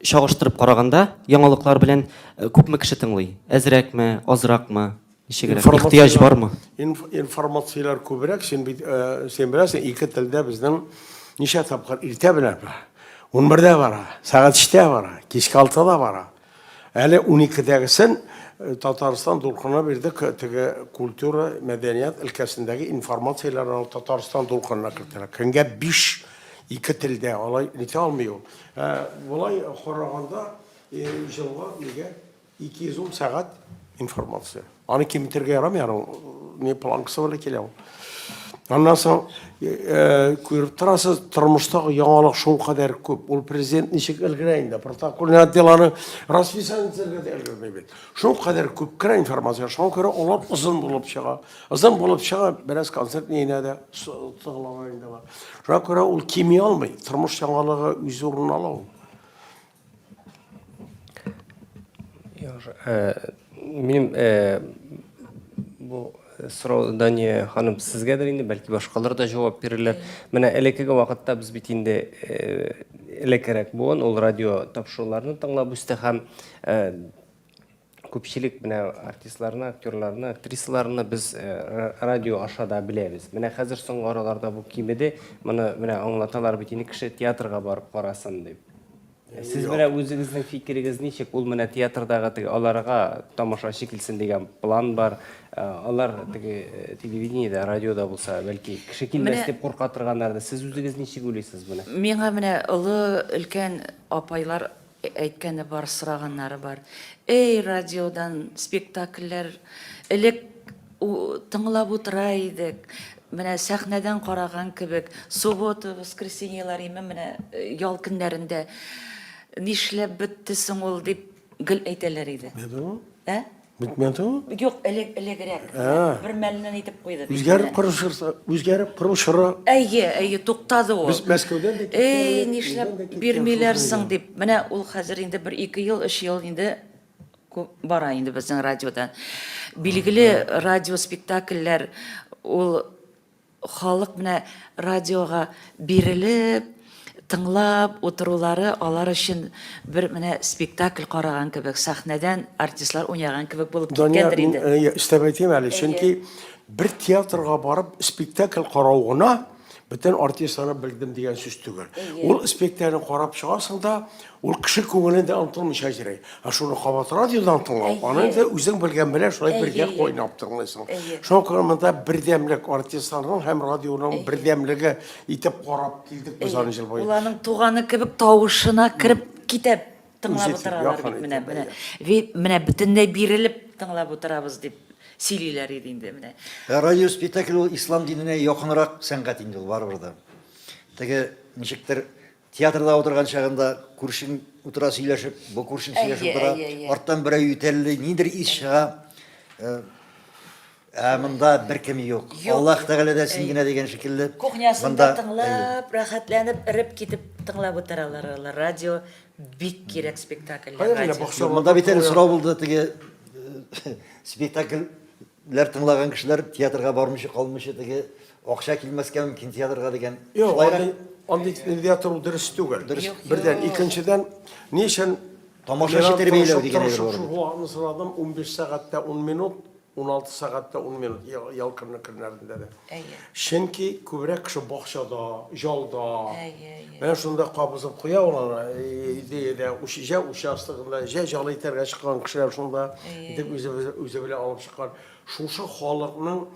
чагыштырып караганда яңалыклар белән күпме кеше тыңлый әзрәкме азракмы Ничегрәк? Ихтыяҗ бармы? Информацияләр күбрәк, син бит, син беләсең, ике телдә безнең ничә тапкыр иртә белән бара, унбердә бара, сәгать өчтә бара, кичке алтыда бара. Әле уникедәгесен Татарстан дулкынына бирдек, теге культура, мәдәният өлкәсендәге информацияләр ул Татарстан дулкынына кертелә. Көнгә биш, ике телдә, алай итә алмый ул. Болай караганда, җылга нигә? 210 сәгать информация. Аны киметергә ярамый, аның не планкасы белән килә ул. Аннан соң э, күреп торасыз, тормыштагы яңалык шул кадәр күп. Ул президент ничек өлгерә инде, протокольный отделаны расписание итәргә дә өлгермәй бит. Шул кадәр күп керә информация, шуңа күрә алар озын булып чыга. Озын булып чыга, бераз концерт нигенә дә тыгылалар инде бар. Шуңа күрә ул кими алмый, тормыш яңалыгы үз урынын ала ул. Минем бу сорау Дания ханым сезгәдер инде, бәлки башкалар да җавап бирерләр. Менә элеккеге вакытта без бит инде элеккерәк буын, ул радио тапшыруларны тыңлап үсте һәм Күпчелек менә артистларны, актерларны, актрисаларны без э, радио аша да беләбез. Менә хәзер соңгы араларда бу кимеде. Моны менә аңлаталар бит инде кеше театрга барып карасын дип. Сез Юк. менә үзегезнең фикерегез ничек? Ул менә театрдагы теге аларга тамашачы килсен дигән план бар. Э, Алар теге э, телевидениедә, радиода булса, бәлки кеше килмәс Менә- дип курка торганнардыр. Сез үзегез ничек уйлыйсыз моны? Миңа менә олы өлкән апайлар Әйткәне бар, сораганнары бар. Әй, радиодан спектакльләр элек тыңлап утыра идек. Менә сәхнәдән караган кебек, суббота, воскресеньелар име менә э, ял көннәрендә нишләп бетте соң ул дип гел әйтәләр иде. Ә? Бетмәде ул? Юк, элек элегрәк. Бер мәлнен итеп куйды. Үзгәреп корышырса, үзгәреп корышыра. Әйе, әйе, туктады ул. Без Мәскәүдән дә киткән. Эй, нишләп бирмиләр соң дип. Менә ул хәзер инде бер ике ел, өч ел инде бара инде безнең радиодан. Билгеле радиоспектакльләр ул Халык менә радиога бирелеп, тыңлап утырулары алар өчен бер менә спектакль караган кебек, сәхнәдән артистлар уйнаган кебек булып киткәндер инде. Дания, мин өстәп әйтим әле, чөнки бер театрга барып спектакль карау гына бөтен артистларны белдем дигән сүз түгел. Ул спектакльне карап чыгасың да, Ул кеше күңелендә онтылмыйча җырый. Ә шуны кабат радиодан тыңлау, аны инде үзең белгән белән шулай бергә кайнап тыңлыйсың. Шуңа күрә монда бердәмлек артистларның һәм радионың бердәмлеге итеп карап килдек без аны җыр буе. Ул аның туганы кебек тавышына кереп китә тыңлап утыралар бит менә менә. Менә бөтенләй бирелеп тыңлап утырабыз дип сөйлиләр иде инде менә. Радио спектакль ул ислам диненә якынрак сәнгать инде ул барыбер дә. Теге ничектер Театрда утырган чагында күршең утыра сөйләшеп, бу күршең сөйләшеп утыра. Арттан берәү ютәлли, нидер ис чыга. Э, ә монда беркем юк. Аллаһ Тәгалә дә син генә дигән шикелле. Кухнясында тыңлап, рәхәтләнеп, эреп китеп тыңлап утыралар алар. Радио бик кирәк спектакльләр. Монда бит әле сорау булды теге э, спектакль ләр тыңлаган кешеләр театрга бармыйча калмыйча теге акча килмәскә мөмкин театрга дигән Юк, андый, андый нигә тору дөрес түгел. Дөрес. Бердән, икенчедән, ни өчен Тамашачы тәрбияләү дигән әйбер бар. Шул вакытны сорадым, 15 сәгатьтә 10 минут, 16 сәгатьтә 10 минут, ял көннәрендә дә. Әйе. Чөнки күбрәк кеше бакчада, ялда. Әйе, әйе. Менә шунда кабызып куя ул аны, идеядә, җә участогында, җә җал итәргә чыккан кешеләр шунда, дип үзе, үзе белән алып чыккан. Шушы халыкның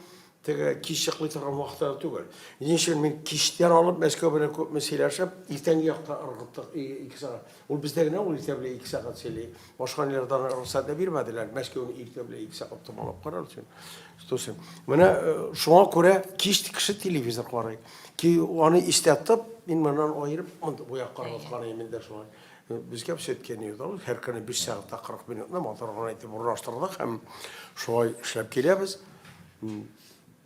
теге кич чыклый торган вакытлары түгел. Ни өчен мин кичтән алып Мәскәү белән күпме сөйләшеп, иртәнге якта ыргыттык ике сәгать. Ул бездә генә ул иртә белән ике сәгать сөйли. Башка ниләрдән рөхсәт дә бирмәделәр. Мәскәүне иртә белән ике сәгать томалап карар өчен. Тусын. Менә э, шуңа күрә кич кеше телевизор карый. Ки аны истә тотып, мин моннан аерып, монда бу якка караткан идем инде шулай. Э, Безгә сөткә ни юда, һәр көне 5 сәгатьтә 40 минутны матур гына итеп урнаштырдык һәм шулай эшләп киләбез. М,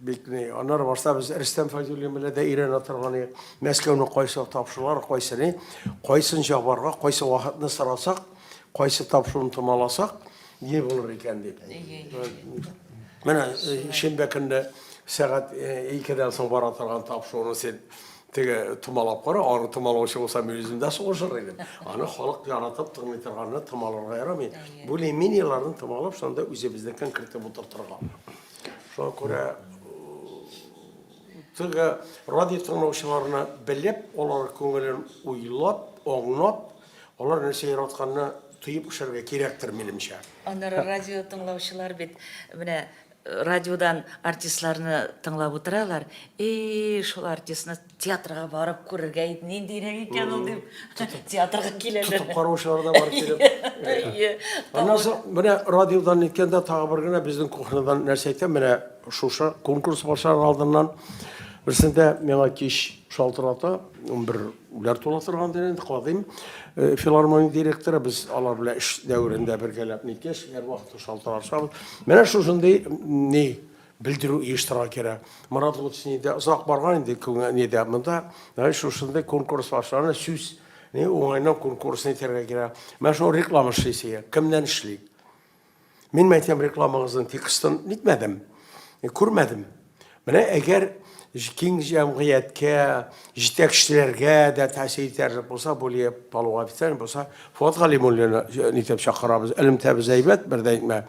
Бит ни, аннары барса без Рөстәм Файзуллин белән дә өйрәнә торган идек. Мәскәүне кайсы тапшыралар, кайсы ни, кайсын җабарга, кайсы вахытны сорасак, кайсы тапшыруны томаласак, не булыр икән дип. Менә э, шимбә көнне сәгать 2-дән э, соң бара торган тапшыруны син теге томалап кара, аны томалаучы булса мин үзем дә сугышыр идем. Аны халык яратып тыңлый торганны томаларга ярамый. Более-менее томалап, шунда үзебезнекен кертеп утыртырга. Шуңа күрә теге радио тыңлаучыларына белеп, алар күңелен уйлап, аңлап, алар нәрсә яратканны тоеп эшләргә кирәктер, минемчә. Аннары радио тыңлаучылар бит менә радиодан артистларны тыңлап утыралар. И, шул артистны Театрга барып күрергә иде, ниндирәк икән ул дип, театрга киләләр. Тотып караучылар да бар килеп. Әйе. Аннан соң менә радиодан әйткәндә тагы бер генә безнең кухнядан нәрсә әйтә, менә шушы конкурс башлар алдыннан берсендә миңа кич шалтырата, 11 үләр тула торган дигән инде кадим э, филармония директоры, без алар белән эш дәверендә бергәләп никеш, һәрвакыт шалтырашабыз. Менә шушындый ни Белдерү оештырырга кирәк. Марат Гутсни дә озак барган инде күңел нидә. Монда менә шушындый конкурс башлана, сүз ни уңайның конкурсын итәргә кирәк. Менә шул реклама эшлисе, кемнән эшли? Мин мәйтәм рекламагызның текстын нитмәдем, күрмәдем. Менә әгәр киң җәмгыятькә, җитәкчеләргә дә тәэсир итәрлек булса, Булия Палуга битәр булса, Фуат Галимуллина нитеп чакырабыз, элемтәбез әйбәт, бер дә әйтмә.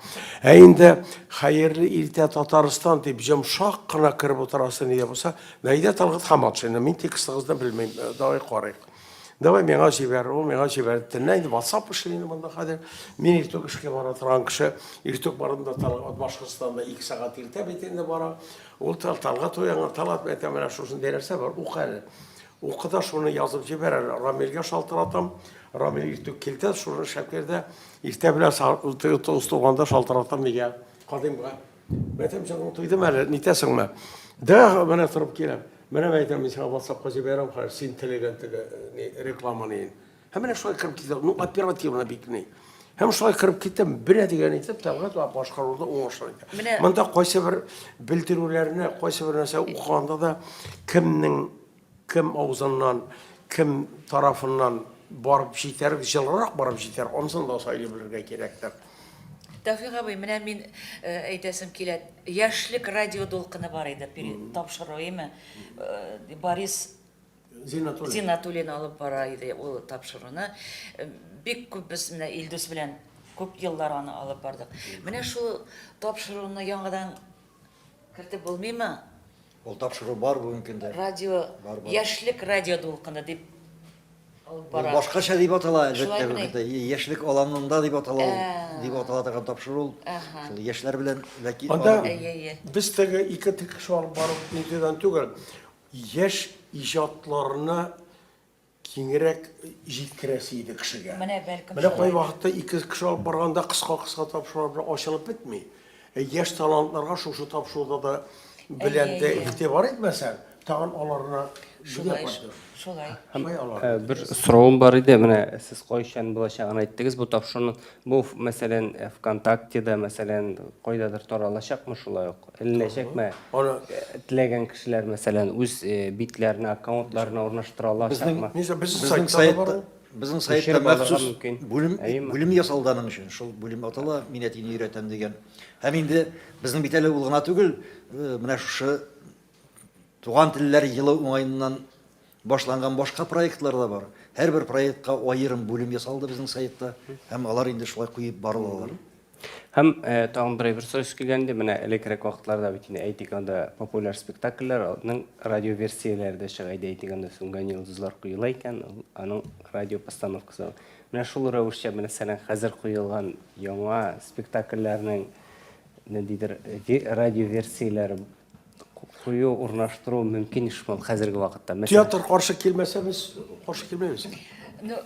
Ә инде хәерле иртә Татарстан дип йомшак кына кереп утырасы нидә булса, Наидә Талгат Хаматшина, мин текстыгызны белмим, э, давай карыйк. Давай миңа җибәр, ул миңа җибәр. Теннә инде WhatsApp эшли инде монда хәзер. Мин иртүк эшкә бара торган кеше, иртүк барында Талгат Башкортстанда 2 сәгать иртә бит инде бара. Ул Тарталга туянган Талат мәйтә менә шушындый нәрсә бар, ук әле. Укы да шуны язып җибәр әле. Рамилгә шалтыратам. Рамил иртүк килтә, шуны шәкләр дә. Иртә белән тоз туганда шалтыратам мигә, кадимга. Мәйтәм, җаның туйдымы әле, нитәсеңме? Да, менә торып киләм. Менә мәйтәм, мин сиңа ватсапка җибәрәм, хәзер син теләгән теге рекламаны. Һәм менә шулай кырып китә. Ну, оперативно бит ни. Һәм шулай кырып китә, бирә дигән итеп Тәлгат ва башкаруда уңышлы итә. Менә... Монда кайсы бер белдерүләрне, кайсы бер нәрсә укыганда да кемнең кем авызыннан, кем тарафыннан барып җитәр, җылырак барып җитәр, ансын да сайлый белергә кирәктер. Тәүфик абый, менә мин э, әйтәсем килә, яшьлек радио дулкыны бар иде, тапшыру, име? Э, Борис Зинатуллин. Зинатуллин алып бара иде ул тапшыруны. Бик күп без менә Илдус белән күп еллар аны алып бардык. Менә шул тапшыруны яңадан кертеп булмыймы? Ул тапшыру бар бүгенге көндә. Радио, бар, бар. яшьлек радио дулкыны дип алып бара. Ул башкача дип атала, әлбәттә, бүгенге көндә. Яшьлек аланында дип атала ул, дип атала торган тапшыру ул. Шул яшьләр белән ләки. Анда без теге ике тик шул барып нидән түгел. Яшь иҗатларны киңрәк җиткерәсе иде кешегә. Менә бәлкем Менә кай вакытта ике кеше алып барганда кыска-кыска тапшырулар белән ачылып бетми. Ә яшь талантларга шушы тапшыруда да белән дә игътибар итмәсәң, тагын аларны шулай шулай. Ә, бер соравым бар иде, менә сез кайчан булачагын әйттегез бу тапшыруның. Бу, мәсәлән, ВКонтактеда, мәсәлән, кайдадыр таралачакмы шулай ук? Эленә чәкмә. Аны теләгән кешеләр, мәсәлән, үз битләренә, аккаунтларына урнаштыралар. Безнең сайтта, безнең сайтта махсус бүлем, бүлем ясалды аның өчен. Шул бүлем атала, мин әтине өйрәтәм дигән. Һәм инде безнең бит әле ул гына түгел, менә шушы Туган телләр елы уңаеннан башланган башка проектлар да бар. Һәрбер проектка аерым бүлем ясалды безнең сайтта. Һәм алар инде шулай куеп барылалар. Һәм тагын берәй бер сорау килгән иде. Менә элеккерәк вакытларда бит инде әйтик анда популяр спектакльләрнең радиоверсияләре дә чыга иде. Әйтик анда Сүнгән йолдызлар коела икән, аның радио постановкасы. Менә шул рәвешчә мәсәлән хәзер коелган яңа спектакльләрнең ниндидер радиоверсияләре кую урнаштыру мөмкин шул хәзерге вакытта театр каршы килмәсә без каршы килмәбез ну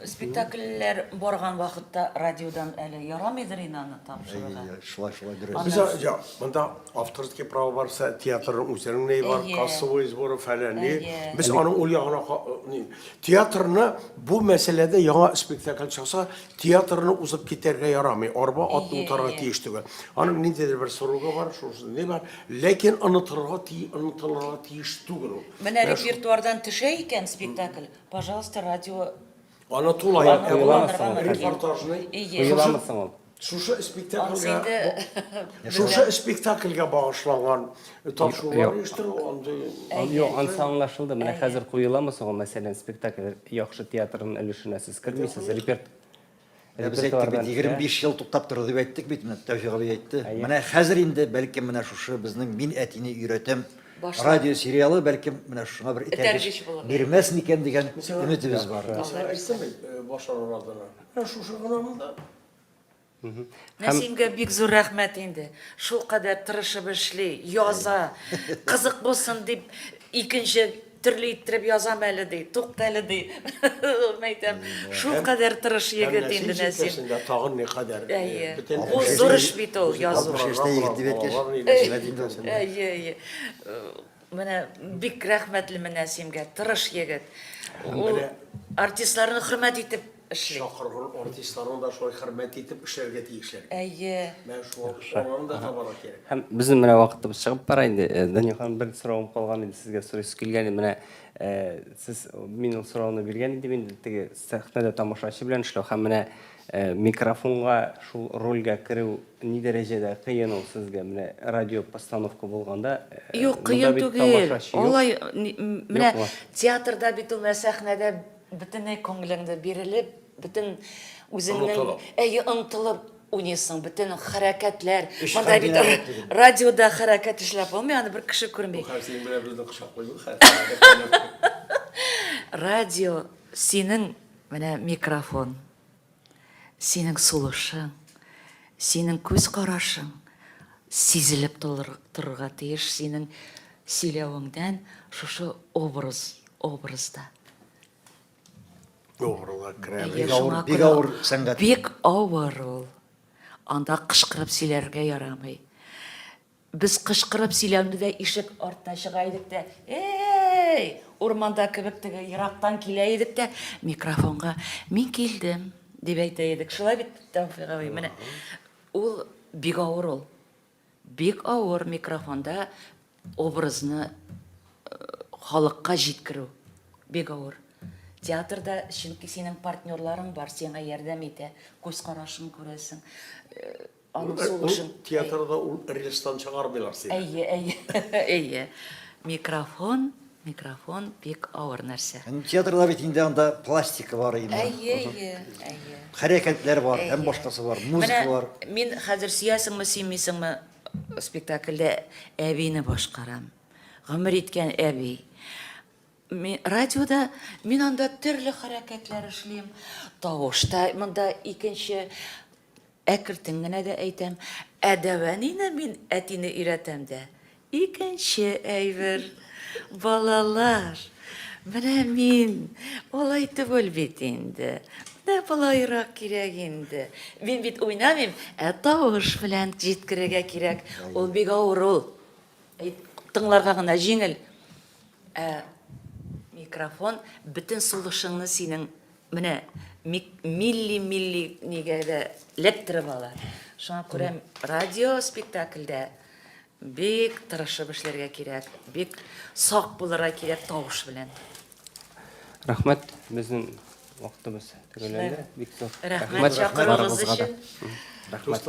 спектакльләр барган вакытта радиодан әле ярамыйдыр инде аны тапшыруга шулай шулай дөрес без монда авторский право барса театрның үзенең ни бар кассовый сборы фәлән ни без аның ул ягына театрны бу мәсьәләдә яңа спектакль чыкса Театрны узып китәргә ярамый, арба ат утарга тиеш түгел. Аның ниндидер бер срогы бар, шусы не бар, ләкин онытырга ти, онытылырга тиеш түгел ул. Менә репертуардан төшә икән спектакль, пожалуйста, радио Аны тулай репортажны. Шушы спектакльгә шушы спектакльгә багышланган Тапшырулар оештыру андый. Юк, анысы аңлашылды. Менә хәзер куеламы соң ул, мәсәлән, спектакль яхшы театрның өлешенә сез кермисез, репертуар. Ә без әйттек бит, 25 ел туктап торды дип әйттек бит, менә Тәүфик абый әйтте. Менә хәзер инде, бәлкем, менә шушы безнең Мин әтине өйрәтәм радиосериалы, бәлкем, менә шуңа бер этәргеч бирмәс микән дигән өметебез бар. Әйтсәм бит, башлар араларына. Менә шушы гына монда. Нәсимгә бик зур рәхмәт инде. Шул кадәр тырышып эшли, яза. Кызык булсын дип, икенче төрле иттереп язам әле ди. Тукта әле ди. Мәйтәм, шул кадәр тырыш егет инде Нәсим. Тагын ни кадәр. Әйе. Бу зур эш бит ул язу. Әйе. Менә бик рәхмәтлемен Нәсимгә. Тырыш егет. Ул артистларны хөрмәт итеп эшли. Чакырган артистларны да шулай хөрмәт итеп эшләргә тиешләр бит. Әйе. Менә шуңа күрә аларны да табарга кирәк. Һәм безнең менә вакытыбыз чыгып бара инде. Дания ханым, бер соравым калган иде, сезгә сорыйсы килгән иде. Менә сез, мин ул сорауны биргән идем инде, теге сәхнәдә тамашачы белән эшләү һәм менә микрофонга шул рольгә керү ни дәрәҗәдә кыен ул сезгә? Менә радио постановка булганда, монда бит тамашачы юк. Юк, кыен түгел. Алай, менә театрда бит ул, менә сәхнәдә Бөтенләй күңелеңне бирелеп, бөтен үзеңнең... Онытылып. Әйе, онытылып уйныйсың, бөтен хәрәкәтләр. Эш Монда бит хәрәкәт ара- түгел. радиода хәрәкәт эшләп булмый, аны бер кеше күрми. Хәзер синең белән безне кочаклыйбыз хәзер. Радио синең менә микрофон. Синең сулышың, синең күз карашың сизелеп торырга тиеш синең сөйләвеңдән шушы образ, образда. Авырлар керә, бик авыр, бик авыр сәнгать. Бик авыр ул. Анда кышкырып сөйләргә ярамый. Без кычкырып сөйләнгедәй ишек артына чыга идек тә, Эй! Урманда кебек теге ерактан килә идек тә, микрофонга Мин килдем! дип әйтә идек. Шулай бит, Тәүфик абый? Менә ул бик авыр ул. Бик авыр микрофонда образны халыкка җиткерү. Бик авыр. Театрда, чөнки синең партнерларың бар, сиңа ярдәм итә, күз карашын күрәсең. Аның сулышын. Ул театрда ул рельстан чыгармыйлар сине. Әйе, әйе. Әйе. Микрофон, микрофон бик авыр нәрсә. Театрда бит инде анда пластика бар инде. Әйе, әйе, әйе. Хәрәкәтләр бар, һәм башкасы бар, музыка бар. Мин хәзер сөясеңме, сөймисеңме, спектакльдә әбине башкарам. Гомер иткән әби. Радиода мин анда төрле хәрәкәтләр эшлим. Тавышта монда икенче Әкертен генә дә әйтәм, ә дәвәнине мин әтине өйрәтәм дә, икенче әйбер. Балалар, менә мин алай түгел бит инде, менә болайрак кирәк инде. Мин бит уйнамыйм, ә тавыш белән җиткерергә кирәк. Ул бик авыр ул. Тыңларга гына җиңел, ә микрофон бөтен сулышыңны синең Менә милли милли нигә дә ләктереп ала. Шуңа күрә радио спектакльдә бик тырышып эшләргә кирәк, бик сак булырга кирәк тавыш белән. Рәхмәт, безнең вакытыбыз төгәлләнде. Бик зур рәхмәт чакыруыгыз өчен. Рәхмәт.